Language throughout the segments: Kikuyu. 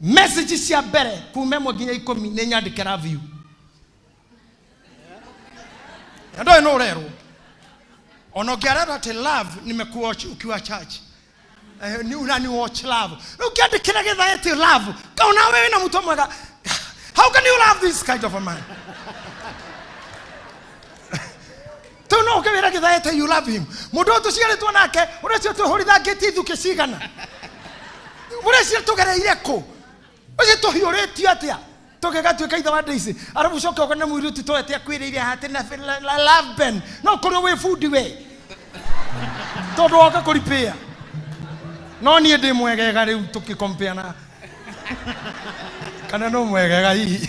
message cia mbere kuma ĩmwe nginya ikũmi nĩ nyandĩke love you na ndoĩ no ũrerwo ona ũngĩarerwo atĩ love nimekuwa ukiwa church Eh, ni unani watch love rĩu ũkĩandĩkĩra gĩthae ti love kau nawe wĩna mũtwe mwega how can you love this kind of a man tau no ũke wĩra gĩthaete you love him mũndũ ũyũ tũciarĩtwo nake ũreciria twĩhũrithangĩtie ithukĩ cigana ũreciria tũgereire kũ ũcio tũhiũrĩtio atĩa tũgĩgatuĩka ithe wa ndĩici arabu ũcoke ũkone mũirĩtu toete akwĩrĩire hati na la- la- laben no kũrĩ wĩ bundi we tondũ woka kũripĩa no niĩ ndĩ mwegega rĩu tũkĩkompea na kana no mwegega hihi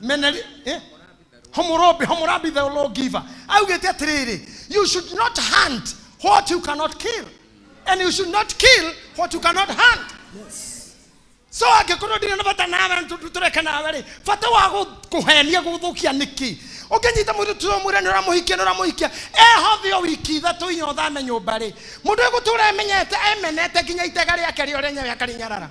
meneri eh? homorobi homorabi the law giver augĩte atĩrĩrĩ you should not hunt what you cannot kill and you should not kill what you cannot hunt so angĩkorwo ndirĩ na bata nawe tũreke nawe rĩ bata wa gũ- kũhenia gũthũkia nĩkĩ ũngĩnyita mũndũ tuo mwĩra nĩ ũramũhikia nĩ ũramũhikia ehothe o wiki ithatũ inya ũthame nyũmba rĩ mũndũ egũtũra emenyete emenete nginya itega rĩake rĩo rĩenyewe akarinyarara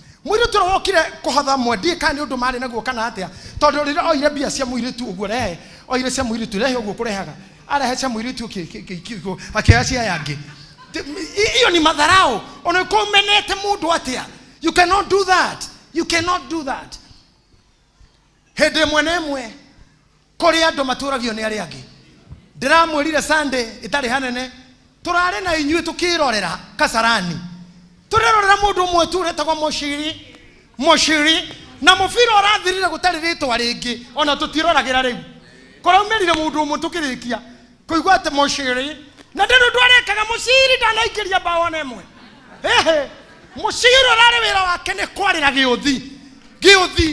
Mũirĩtu ũrĩa wokire kũhatha mwe ndiĩ kana nĩ ũndũ marĩ naguo kana atĩa, tondũ rĩrĩa oire mbia cia mũirĩtu ũguo rehe, oire cia mũirĩtu rehe ũguo kũrehaga, arehe cia mũirĩtu ũki- ki- ki- ki- ki- akĩoya cia aya angĩ. Ti- i- Iyo ni madharau. Ona uko umenete mundu atia. You cannot do that. You cannot do that. Hĩndĩ ĩmwe na ĩmwe kũrĩ andũ matũragio nĩ arĩa angĩ ndĩramwĩrire sunday ĩtarĩ hanene tũrarĩ na inyuĩ tũkĩrorera kasarani tũrerorera mũndũ ũmwe tu ũretagwo mũciri mũciri na mũbira ũrathirire gũtarĩ rĩtwa rĩngĩ ona tũtiroragĩra rĩu kũraumĩrire mũndũ ũmwe tũkĩrĩkia kũigua atĩ mũciri na ndĩrĩ ũndũ arekaga mũciri ndanaingĩria mbaũ ona ĩmwe ĩhĩ mũciri ũrarĩ wĩra wake nĩ kwarĩra gĩũthi gĩũthi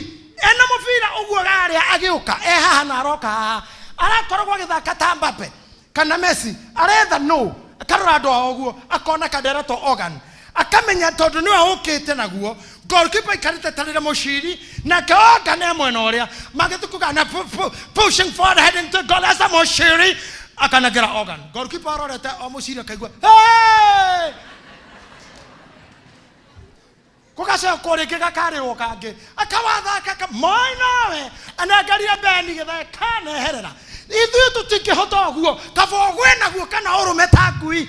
ena mũbira ũguo rarĩa agĩũka e haha na aroka haha arakoragwo agĩthaka ta mbape kana messi aretha no akarora andũ ao ũguo akona kadereto organ akamenya tondũ nĩwe ũkĩte naguo goalkeeper ikarĩte tarĩre mũciri nake ogane e mwena ũrĩa magĩtukugana pu- pu- pushing forward heading to goal as a mũciri akanengera ogan goalkeeper arorete o mũciri akaigua "Hey!" gũgacokwo rĩngĩ gakarĩrwo kangĩ akawathaka ka- moi nawe anengerire beni gĩthae kaneherera ithuĩ tũtingĩhota ũguo kaba ũgwe naguo kana ũrũme ta ngui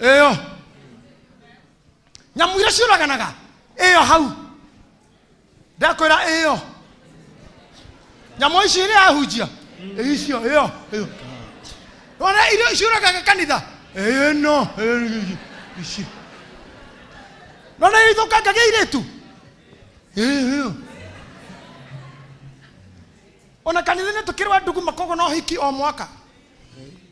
ĩyo nyamũ iria ciũraganaga ĩyo hau ndakwĩra ĩyo nyamũ ici iria ahunjia icio ĩyo ĩyo ona iria ciũragaga kanitha ĩno ĩno, ici nona ithũkangagia irĩtu ĩyo ona kanitha-inĩ tũkĩrwa nduguma kogo no hiki o mwaka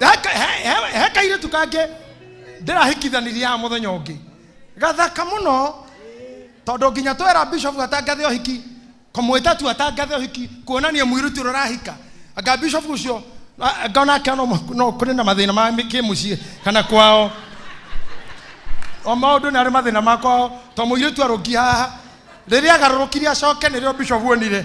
Heka- he- he- he kairĩtu kangĩ ndĩrahikithanirie haha mũthenya ũngĩ gathaka mũno tondũ nginya twera bishop atangathe ũhiki kũmwĩta tu atangathe ũhiki kuonania mũirĩtu ũrĩa ũrahika anga bishop ũcio a- ngona ake no mũ- no kũrĩ na mathĩna ma mĩ- kĩmũciĩ kana kwao o maũndũ nĩ arĩ mathĩna makwao to mũirĩtu arũngi haha rĩrĩa agarũrũkire acoke nĩrĩo bishop onire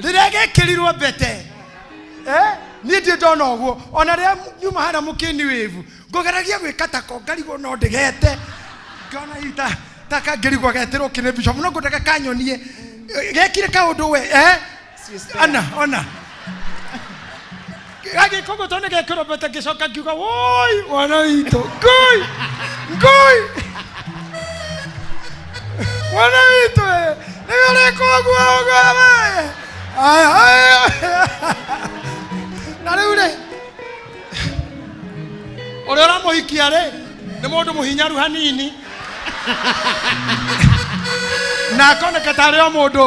rĩrĩa gĩkĩrirwo mbete eh, niĩ ndiĩ ndona ũguo ona rĩrĩa nyuma harĩa mũkĩni wĩvu ngũgeragia gwĩka tako ngarigwo no ndĩgete ngona hihi ta ta kangĩrigwo geterwo kĩrĩ bishop no ngũndaka kanyonie Eh, gekire kaũndũ we eh? ana ona gagĩkũngũ tondũ gekũrũmbete ngĩcoka ngiuga woi wana witũ ngui ngui wana witũ ĩ, nĩ ũrĩkũ ũguo ũguo we aya aya na rĩu rĩ ũrĩa ũramũhikia rĩ nĩ mũndũ mũhinyaru hanini na akoneka tarĩ o mũndũ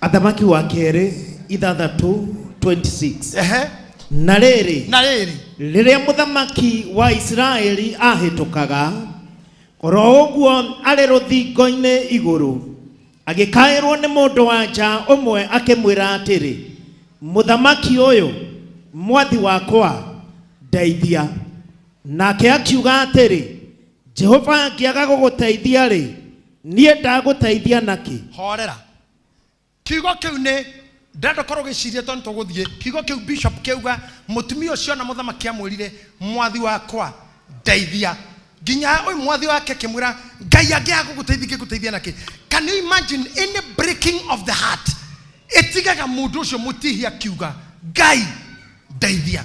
athamaki wa kerĩ ithathatũ 26 Ehe. na rĩrĩ na rĩrĩ rĩrĩa mũthamaki wa isiraeli ahĩtũkaga oro ũguo arĩ rũthingo-inĩ igũrũ agĩkaĩrwo nĩ mũndũ wa nja ũmwe akĩmwĩra atĩrĩ mũthamaki ũyũ mwathi wakwa ndeithia nake akiuga atĩrĩ jehova angĩaga gũgũteithia-rĩ niĩ ndagũteithia nakĩ horera kiugo kĩu nĩ ndĩrenda ũkorwo ũgĩciria tondũ tũgũthiĩ kiugo kĩu bishop kĩauga mũtumia ũcio ona mũthamaki amwĩrire mwathi wakwa ndeithia nginya ha ũyũ mwathi wake akĩmwĩra ngai angĩaga gũgũteithia ingĩgũteithia nakĩ can you imagine any breaking of the heart ĩtigaga mũndũ ũcio mũtihia akiuga ngai ndeithia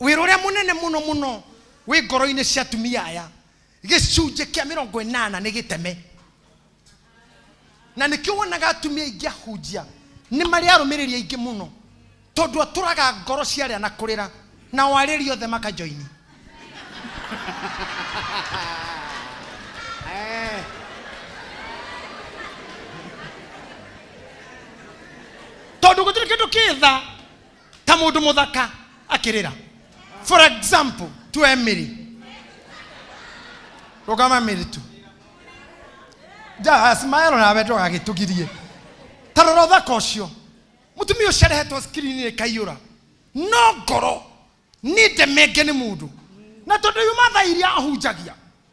wĩra ũrĩa mũnene mũno mũno wĩ ngoro-inĩ cia atumia aya gĩcunjĩ kĩa mĩrongo ĩnana nĩ gĩteme na nĩkĩo wonaga atumia aingĩ ahunjia nĩ marĩ arũmĩrĩri aingĩ mũno tondũ atũraga ngoro cia arĩa na kũrĩra na warĩri othe makajoini tondå gå tirä kä ndå kä tha ta mundu muthaka akirira for example to emily rugama emily tu ja smile nawe ndugagitugirie ta rora uthaka ucio mutumia ucio arehetwo skrini kaiyura no ngoro ninde menge ni mundu na tondu yuma tha iria ahunjagia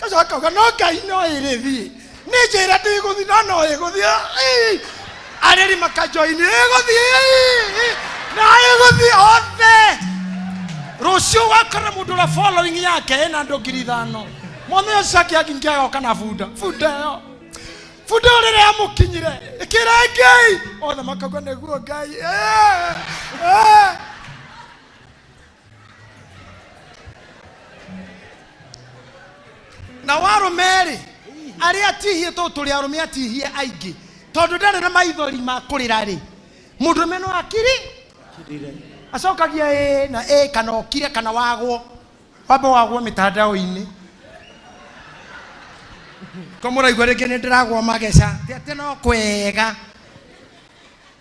gacoka akauga no ngai no ĩrĩ thiĩ nĩ njĩra ndĩgũthiĩ no no ĩgũthiĩ Ĩĩ. arĩri makanjoini ĩgũthiĩ Ĩĩ. na ĩgũthiĩ othe rũciũ wakora mũndũ ũrĩa following yake ĩna andũ ngiri ithano mwana ũyũ cake angĩngĩa agoka na bunda bunda ĩyo bunda ĩyo rĩrĩa yamũkinyire ĩkĩra ngai othe makauga nĩguo ngai Ĩĩ. Ĩĩ. nao arũme rĩ arĩa atihie tondũ tũrĩ arũme atihie aingĩ tondũ ndarĩ na maithori ma kũrĩra rĩ mũndũme no akiri acokagia ĩ na ĩ kana okire kana wagwo wamba wagwo mĩtandao-inĩ ko mũraigua rĩngĩ nĩ ndĩragwo mageca ti atĩ no kwega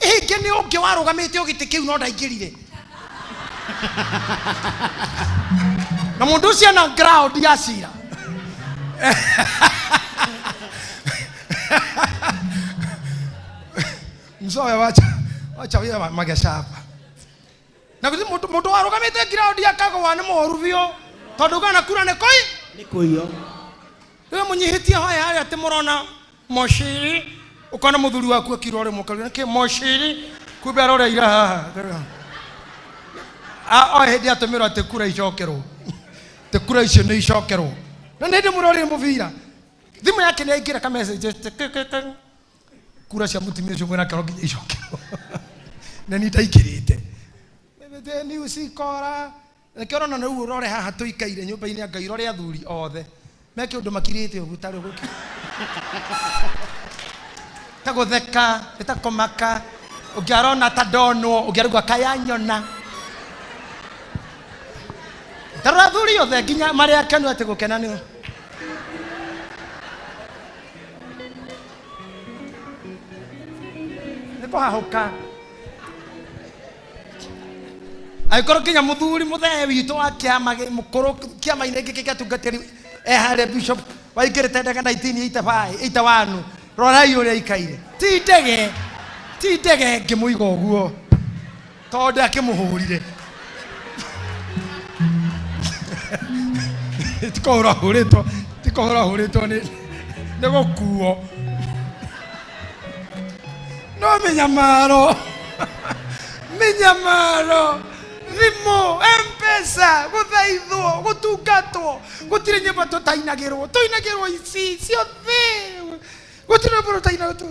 Ingĩ nĩ ũngĩ warũgamĩte o gĩtĩ kĩu no ndaingĩrire. Na mũndũ ũcio ena ground ya cira. Mzoya wacha wacha wia ma- magesha hapa. Na kuti mũndũ mũndũ warũgamĩte ground akagwa nĩ moru biũ tondũ kana kura nĩ koi nä kå iyo rä må nyihä tie hoya harä a tä må rona moshiri ukona muthuri waku akirore mukari nake moshiri kumbe aroreira haha A- o hindi atumirwo ati kura icokerwo ti kura icio ni icokerwo na ni hindi murorire mubira thimu yake ni aingira ka message ati kik, kik, kik. kura cia mutumia ucio mwena kero nginya icokerwo na ni ndaingirite Mimi, ni usikora Reke ũrona na rĩu ũrore haha tũikaire nyũmba-inĩ ya Ngai, ũrore athuri othe meke ũndũ makirĩte ũguo ta rĩu gũkĩ ta gũtheka, nĩ ta kũmaka, ũngĩ arona ta ndonwo, ũngĩ araigua kaya nyona. Ta rora athuri othe nginya marĩ akenu atĩ gũkena nĩ nĩ kũhahũka. angĩkorwo kinya mũthuri mũthee witũ wa kĩama gĩ- mũkũrũ kĩama-inĩ gĩkĩ gĩa tungatĩri eharĩa bishop waingĩrĩte ndege 1981 rorai ũrĩa aikaire ti ndege ti ndege ngĩmũiga ũguo tondũ akĩmũhũrire tikũhũra hũrĩtwo tikũhũra hũrĩtwo nĩ nĩ gũkuo no minyamaro minyamaro thimũ mpesa gũthaithwo gũtungatwo gũtirĩ nyĩmbo tũtainagĩrwo tũinagĩrwo ici ciothe gũtirĩ nyĩmbo tũtainagĩrwo